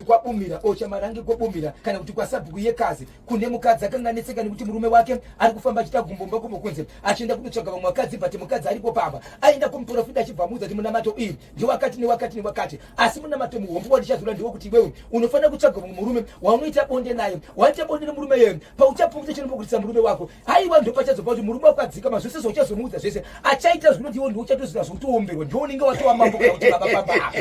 kwabumira ochamarange oh, kwabumira kana kuti kwasabhuku yekazi kune mukadzi akanga anetseka nekuti murume wake ari kufamba achiita gumbomba kumo kunze achienda kunotsvaga vamwe vakadzi but mukadzi ariko pamba aenda kumuprofita achibva amuudza kuti munamato iyi ndiwakati newakati newakati asi munamato muhombo wandichazvira ndewekuti iwewe unofanira kutsvaga vamwe murume waunoita bonde naye waita bonde nemurume yeye pauchapfuudza chinombokutisa murume wako haiwa ndopachazopa kuti murume wako adzikama zvese zvauchazomuudza zvese achaita zvinoti iwo ndiuchatoziva zvokutoomberwa ndiwo unenge watowa mambo kana kuti babababa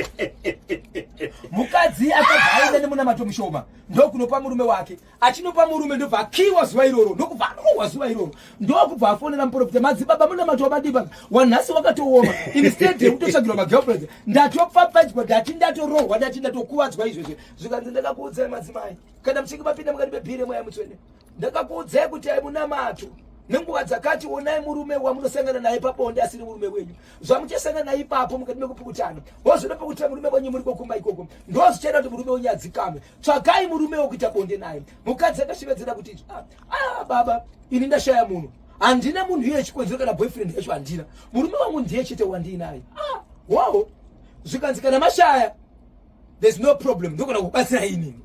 mukadzi akabva aenda nemunamato mushoma ndokunopa murume wake achinopa murume ndobva akiwa zuva iroro ndokubva arohwa zuva iroro ndokubva afonera muprofita madzibaba munamato wabadiba wanhasi wakatooma instead yekutotsvagirwa magirlfriends ndatopfapfadzwa ndati ndatorohwa ndati ndatokuvadzwa izvezve zvikanzi ndakakuudzai madzimai kana muchinge mapinda mukati mebhire mwaya mutswene ndakakuudzai kuti aimunamato nenguva dzakati onai murume wamunosangana naye pabonde asiri murume wenyu zvamuchasangana naye ipapo mukati mekupukutana wozvida pekuti murume wenyu muri kokumba ikoko ndozvichaita kuti murume wenyu adzikame tsvagai murume wekuita bonde naye mukadzi akashevedzera kuti ah, ah baba ini ndashaya munhu handina munhu iye chikonzero kana boyfriend yacho handina murume wangu ndiye chete wandiinaye ah, wawo zvikanzi kana mashaya There's no problem. Ndogona kubatsira inini.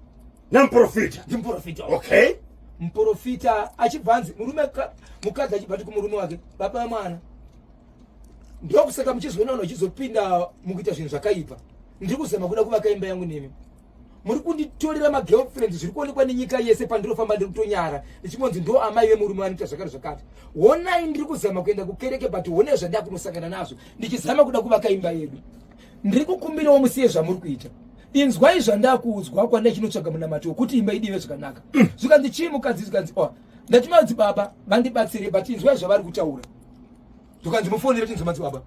Namprofita. Ndimprofita. Okay. Mprofita achibva anzi murume mukadzi achibva ati kumurume wake baba vamwana ndokusaka muchizoonana uchizopinda mukuita zvinhu zvakaipa ndiri kuzama kuda kuvaka imba yangu nemi muri kunditorera magirlfriend zviri kuonekwa nenyika yese pandinofamba ndiri kutonyara ndichimonzi ndo amai vemurume vanoita zvakati zvakati honai ndiri kuzama kuenda kukereke but honai zvandakunosangana nazvo ndichizama kuda kuvaka imba yedu ndiri kukumbirawo musiye zvamuri kuita inzwai zvandakuudzwa kwanda chinotsvaga munamato wekuti imba idive zvakanaka mm. zvikanzi chii mukadzi zvikanzi o oh, ndati madzibaba vandibatsire but inzwai zvavari kutaura zvikanzi mufonere tinzwa madzibaba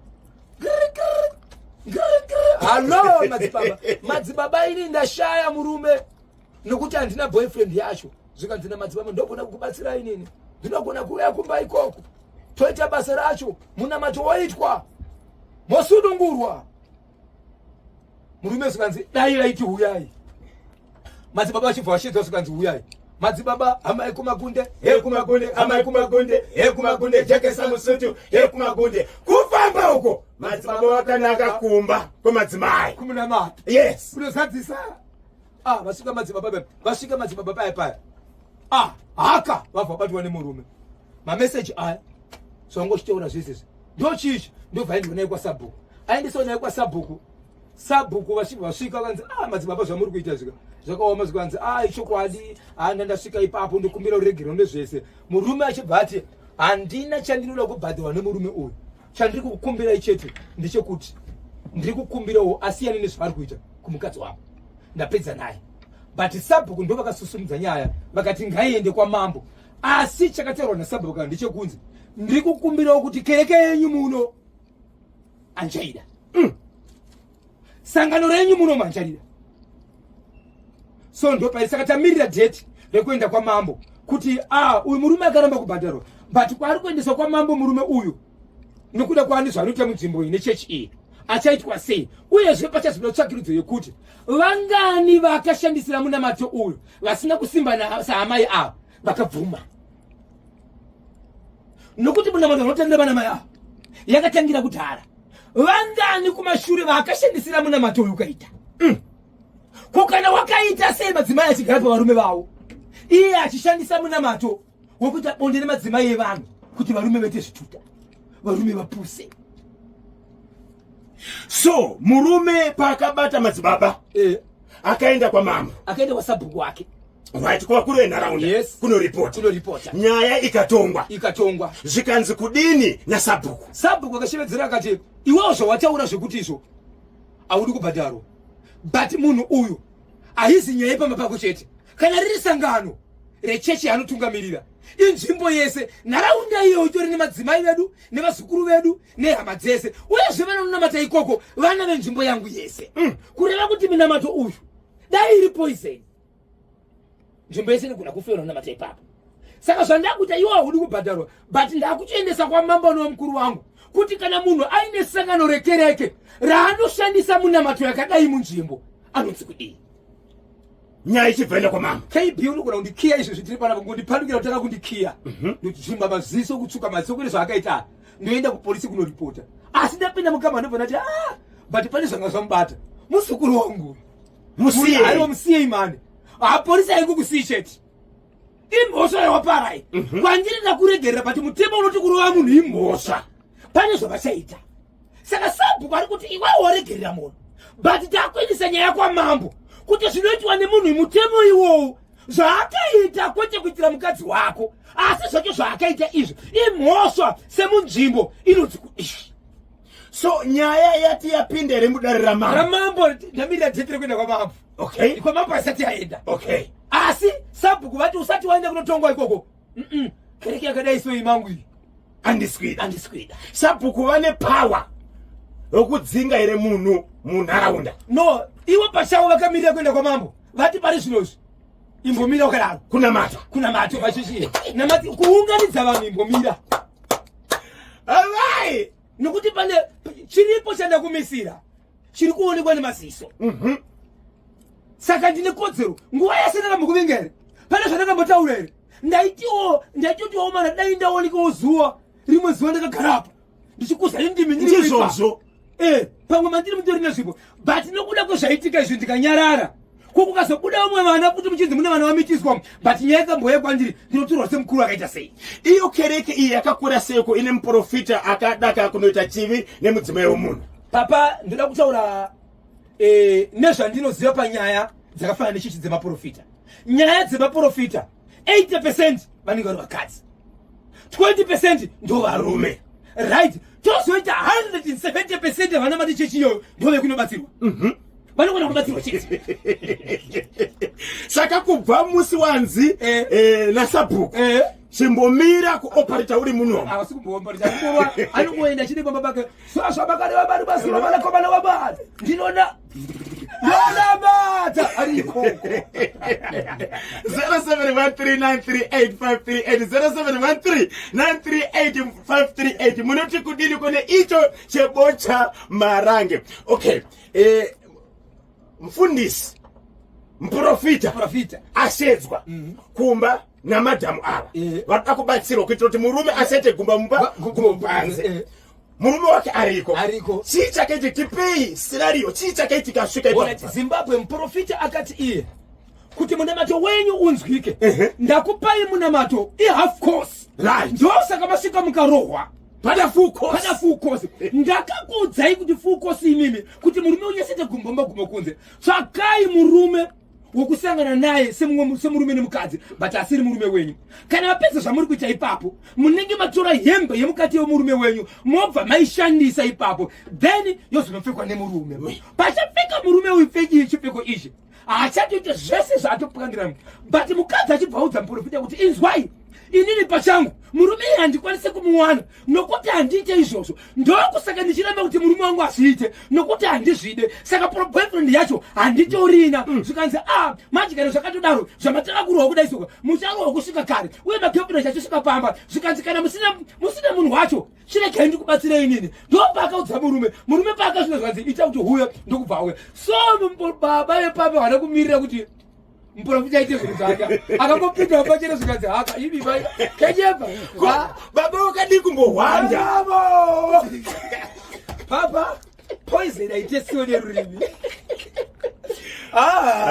hallo madzibaba madzibaba ini ndashaya murume nokuti handina boyfriend yacho zvikanzi namadzibaba ndogona kukubatsirai nini ndinogona kuuya kumba ikoko toita basa racho munamato woitwa mosunungurwa murume zvikanzi dai raiti huyai madzibaba vachibva vashedzwa zvikanzi huyai madzibaba amai kumakunde he kumakunde amai kumakunde he kumakunde jekesa musutu he kumakunde kufamba uko madzibaba vakanaka kumba kwemadzimai kumunamato yes kunozadzisa Ah, vasvika madzibaba paya. Vasvika madzibaba paya paya. Ah, haka vabva batwa nemurume. Ma message aya. Songo chitaura zvese. Ndo chichi ndo vaendwa naye kwa sabhuku. Aendeswa naye kwa sabhuku. Sabhuku vasvika vasvika vanzi ah madzibaba zvamuri kuita zvika. Zvakaoma zvikanzi ah ichokwadi ah ndandasvika ipapo ndokumbira uregerwe nezvese. Murume achibva ati handina chandinoda kubhadhwa nemurume uyu. Chandiri kukukumbirai chete ndechekuti ndiri kukumbirawo asiyane nezvavari kuita kumukadzi wavo. Ndapedza naye. But sabhuku ndo vakasusumudza nyaya vakati ngaiende kwamambo. Asi chakataurwa nasabhuku kana ndechekunzi ndiri kukumbirawo kuti kereke yenyu muno anjaida. Mm. sangano renyu munomhanjarira so ndopari saka tamirira date rekuenda kwamambo kuti ah, uyu murume akaramba kubhadharwa but kwaari kuendeswa kwamambo murume uyu nokuda kwaani zvaanoita munzvimbo iyi nechechi iyi achaitwa sei uyezve pachazoda tsvakirudzo yekuti vangani vakashandisira munamato uyu vasina kusimba saamai ava vakabvuma nokuti munamato vanotenda vana mai avo yakatangira kudhara vangani kumashure vaakashandisira munamato uyu ukaita mm. ko kana wakaita sei madzimai achigara pavarume vavo iye achishandisa munamato wekuita bonde nemadzimai evanhu kuti varume vaite zvituta varume vapuse so murume paakabata madzibaba eh. akaenda kwamama akaenda kwasabhuku wake Right, kwa kule enharaunda yes. kuno report kuno report nyaya ikatongwa ikatongwa zvikanzi kudini na sabhuku sabhuku akashevedzera akati iwewo zvawataura zvekuti izvo audi kubhadharwa but munhu uyu ahizi nyaya pamba pako chete kana riri sangano rechechi anotungamirira inzvimbo yese nharaunda iyo itori nemadzimai vedu nevazukuru vedu nehama dzese uyezve vanonamata ikoko vana venzvimbo yangu yese mm. kureva kuti minamato uyu dai iri poiseni nzvimbo yese inogona kufa unonamata ipapo saka zvandakuita iwo ahudi kubhadharwa but ndakuchiendesa kwamambo nomukuru wangu kuti kana munhu aine sangano rekereke raanoshandisa munamato yakadai munzvimbo anonzi kudii nyaya ichibvaenda kwamambo kb unogona kundikiya izvi zvitiri panapa ngondipandukira kutanga kundikiya mhm. ndozvimba maziso kutsuka maziso kune zvaakaita ndoenda kupolisi kunoripota asi ndapinda mukama ndobva ndati a ah, but pane zvanga zvamubata muzukuru wangu musiye aiwa musiyei mani haporisa ah, yekukusii chete imhosva yawaparai mhm. kwandiri ndakuregerera but mutemo unoti kurova munhu imhosva pane zvavachaita saka sabhuku ari kuti iwe woregerera munhu but takuendesa nyaya kwamambo kuti zvinoitwa nemunhu mutemo iwowo zvaakaita kwete kuitira mukadzi wako asi zvacho zvaakaita izvi imhosva semunzvimbo inonzi kuishi So nyaya yati yapinda here mudare ramambo? Ramambo ndamiri yadzikire kuenda kwamambo. Okay. Kwamambo haisati yaenda. Okay. Asi sabhuku vati usati waenda kunotongwa ikoko. Mm -mm. Kereke yakadai so imangu iyi. Andiswida. Andiswida. Sabhuku vane power yokudzinga here munhu munharaunda? No, ivo pachavo vakamirira kuenda kwamambo. Vati pari zvino izvi. Imbomira ukadaro. Kunamata. Kunamata vazhinji. Namati kuunganidza vanhu imbomira. Amai, nekuti pane chiripo chandakumisira chiri kuonekwa nemaziso. Mhm. Saka ndine kodzero nguva yese ndakambokuvinga here? Pane zvandakambotaura here? Ndaitiwo ndaitotiwo mana dai ndaonekawo zuva rimwe zuva ndakagara apa ndichikuza indimi ndiri kuipa. Ndizvozvo. eh pamwe mandiri mutori nezvipo but nokuda kwezvaitika izvi ndikanyarara ko kukazobuda vamwe vana kuti muchinzi mune vana vamitiswa but nyaya ikamboya kwandiri ndinotorwa semukuru akaita sei iyo kereke iyi yakakura seiko ine muprofita akadaka kunoita chivi nemudzimai wemunhu papa ndoda kutaura eh, nezvandinoziva panyaya dzakafanana nechichi dzemaprofita nyaya dzemaprofita 80% vanenge vari vakadzi 20% ndo varume right tozoita 170% yavana mati chechi iyoyo ndo vekunobatsirwa mhm. vanogona kubatsirwa chete saka kubva musi wanzi eh. eh, nasabhuku eh. chimbomira kuoparita uri munomu anongoenda chine kwamba bake Sasa bakari wa bari basi na bana kobana wa bari. Ndinona. Ndona bata ari koko. 0713938538 munoti kudini kune icho chebocha marange. Okay. Eh mfundisi mprofita ashedzwa mm -hmm. kumba namadhamu ava eh. vanoda kubatsirwa kuitira kuti murume asete gumba mumba gumo panze eh. murume wake ariko ariko chii chakaiti tipei scenario chii chakaiti kasvika ipo zimbabwe muprofita akati iye kuti munamato wenyu unzwike ndakupai munamato ihalf course right ndosaka masvika mukarohwa pada full course pada full course ndakakuudzai kuti full course imimi kuti murume unyesete gumbo maguma kunze tsvakai murume wokusangana naye semumwe semurume nemukadzi but asiri murume wenyu kana vapedza zvamuri kuita ipapo munenge matora hembe yemukati yemurume wenyu mobva maishandisa ipapo then yozonopfekwa nemurume pachapfeka murume uyu pfeki chipfeko ichi haachatoita zvese zvaatopangira but mukadzi achibva audza muprofita kuti inzwai inini pachangu murume iye handikwanise kumuwana nokuti handiite izvozvo ndokusaka ndichiramba kuti murume wangu azviite nokuti handizvide saka proboyfriend yacho handitorina mm. zvikanzi a majikare zvakatodaro zvamatanga kurohwa kudaisoka mucharohwa kusvika kare uye magefuna chachosvika pamba zvikanzi kana musina musina munhu wacho chiregei ndikubatsira inini ndopaakaudza murume murume paakazvinozvanzi ita kuti huye ndokubva uya so baba vepamba vana kumirira kuti muporofita aite zvinhu zvake akangopindawo pachene zvikanzi haka ivi vai kenyeba baba wakadii kumbohwanda papa poison aite siwo nerurimi ah.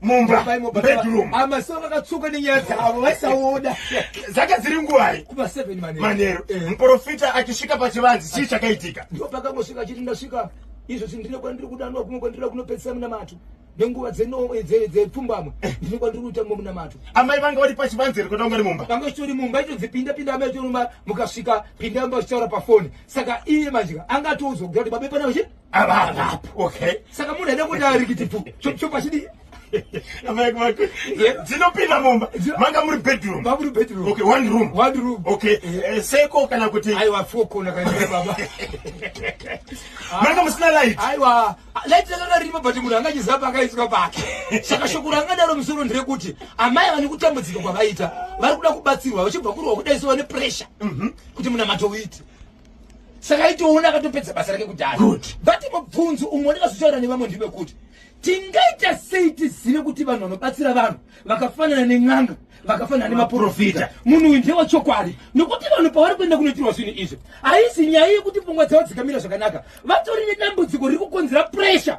mumba bedroom amaso vakatsuka nenyaya dzavo vaisaoda dzaka dziri nguvai kuva 7 manero manero eh. muprofita achisvika pachivanzi chii chakaitika ndipo pakangosvika achiti ndasvika izvo zvinhu ndine kwandiri kudanwa kumwe kwandiri kunopedzisa munamato nenguva dzepfumbamwe eh, eh. ndine kwandiri kuita mumwe munamato amai vanga vari pachivanzi here kutanga ri mumba vanga chitori mumba itodzi pinda pinda amai chitori mumba mukasvika pinda mumba uchitaura pafoni saka iye manjika anga atoudzwa kuda kuti babepana vachi Ababa. Okay. Saka munhu aida kuti arikiti tu. Chopa chidi. Amai kumaka. Dzinopinda mumba. Manga muri bedroom. Ba muri bedroom. Okay, one room. One room. Okay. Eh, seko kana kuti. Aiwa four kona kana baba. Manga musina light. Aiwa light rakanga riripo but munhu anga chizapa akaiswa pake. Saka shoko rangadaro musoro ndire kuti amai vane kutambudzika kwavaita vari kuda kubatsirwa vachibva kurwa kudaiso vane pressure. Mhm. Kuti munamato uite. saka aitoona akatopedza basa rake kudhara but mubvunzo umwe wandakazotaura nevamwe ndive kuti tingaita sei tizive kuti vanhu vanobatsira vanhu vakafanana nen'anga vakafanana nemaprofita munhu uyu ndewa chokwadi nokuti vanhu pavari kuenda kunoitirwa zvinhu izvi haisi nyaya yekuti pfungwa dzavo dzikamira zvakanaka vatori nedambudziko riri kukonzera pressure